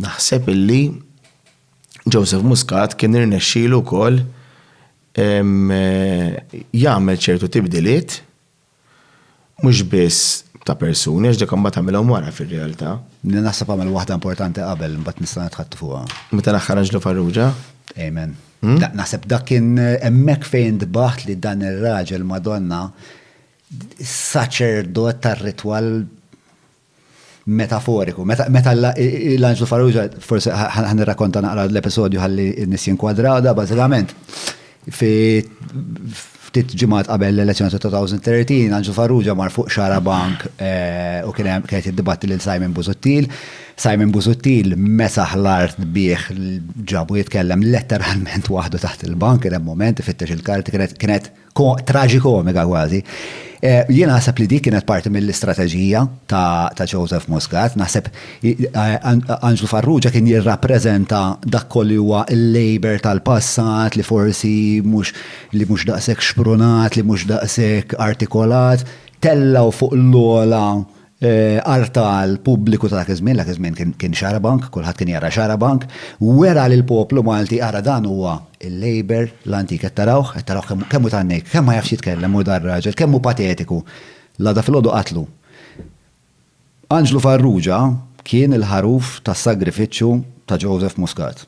Naħseb illi Joseph Muscat kien irnexxielu wkoll jagħmel ċertu tibdiliet mhux biss ta' persuni, għax dak imbagħad għamilhom wara fir-realtà. Li naħseb għamel waħda importanti qabel imbagħad nista' nitħatt fuqha. Meta naħħa Anġlu Farrugia? Amen. Hmm? Naħseb dak kien hemmhekk fejn tbaħt li dan ir-raġel Madonna saċerdot tar-ritwal metaforiku. Meta meta l- l- l-anġlu Farrugia, forsi ħa- ħa- ħan irrakonta naqra l-episodju ħalli n-nies jinkwadraw da, bażikament. Fi ftit ġimgħat qabel l-elezzjoni ta' 2013, Anġlu Farrugia mar fuq xara bank eh, u kien hemm kienet jiddibatti lil Simon Busuttil. Simon Busuttil mesaħ l-art bih l- ġabu jitkellem letteralment waħdu taħt il-bank, kien hemm moment ifittex il-karti kienet kienet traġikomika kważi. Eh, jien naħseb li dik kienet parti mill-istrateġija ta' Joseph Muscat, naħseb eh, Anġlu Farrugia kien jirrappreżenta dak kolli huwa l-labor tal-passat li forsi mhux li mhux daqshekk xprunat, li mhux daqshekk artikolat, tellaw fuq l-ola Għarf tal-pubbliku ta' dak iż-żmien, dak iż-żmien kien xarabank, kulħadd kien jara xarabank, wera li l-poplu Malti ara dan huwa l-Labour l-antik, qed tarawh, qed tarawh kemm hu tan-nejk, kemm ma jafx jitkellem hu dan raġel, kemm hu patetiku. L-għada filgħodu qatlu. Anġlu Farrugia kien il-ħaruf tas-sagrifiċċju ta' Joseph Muscat.